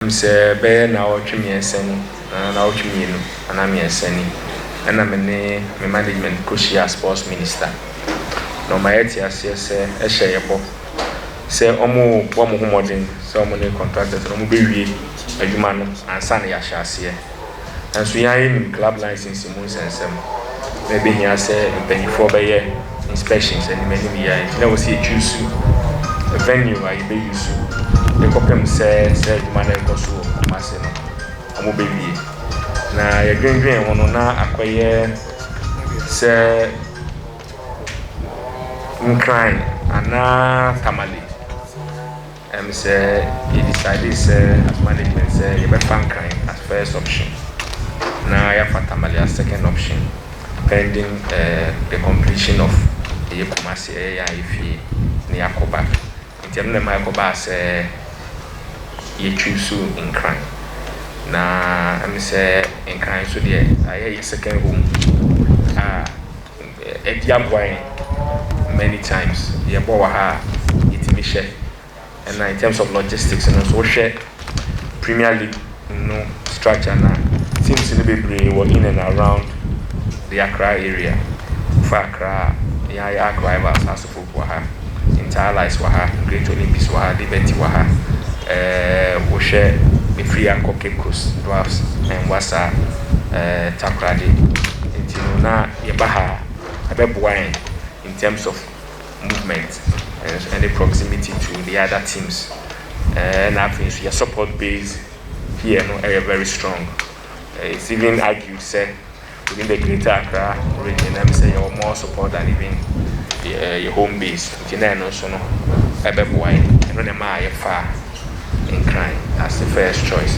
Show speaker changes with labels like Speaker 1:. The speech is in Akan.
Speaker 1: Minim sɛ bɛyɛ nnawɔtwe mmiɛnsa ni anaa nnawɔtwe mmienu anaa mmiɛnsa ni na me ne me management kɔhyiaa sports minister na ɔma yɛte aseɛ sɛ ɛhyɛ yɛ bɔ sɛ wɔrebɔ wɔn ho mmɔden sɛ wɔne contractors no wɔbɛwie adwuma no ansa na yɛahyɛ aseɛ. Nanso yɛn ara yɛnim club license mu nsɛnsɛm, na ɛbɛhia sɛ mpaninfoɔ bɛyɛ inspections anim anim yie a nti na ɛwɔ sɛ yɛ choose venue a yɛbɛ use de kɔpem sɛ saa adwuma no a ɛrekɔ so wɔ Kumasi no wɔn bɛ wie. Na yɛ dwendwene ho no na akɔyɛ sɛ Nkran anaa Tamale. Ɛm sɛ yɛ decidee sɛ as management sɛ yɛbɛfa Nkran as first option na yɛafa Tamale as second option pending the completion of ɛyɛ Kumasi ɛyɛ yɛn a yɛfie na yɛakɔ ba nti ɛno na ɛma ɛkɔbaa sɛ yɛ choose Nkran na ɛm sɛ Nkran nso deɛ ɛyɛ yɛ second home a Adi aboa yɛn many times, yɛbɔ wɔ ha a yɛtumi hyɛ, ɛna in terms of logistics no nso wohwɛ Premier League no structure no a, teams no bebree wɔ in and around the Accra area, wofa Accra a, yɛn ara yɛ Arc Rivals, Asupofo. wɔ ha, Inter Allies wɔ ha, Great Olympics wɔ ha, Liberty wɔ ha, eh, wohwɛ befiri ha kɔ Cape Coast, Dwarfs, and Wassa, eh, Takoradi. Nti no na yɛba ha a, ɛbɛboa yɛn in terms of movement and ɛne proximity to the other teams. Eh, ɛna afei nso yɛ support base here no ɛyɛ very strong. Eh, it's even argued sɛ Within the Greater Accra Region, na mesɛ yɛwɔ more support than even yɛ home base, nti na ɛno nso no ɛbɛboa yɛn. Ɛno na ɛmaa yɛfaa Nkran as the first choice.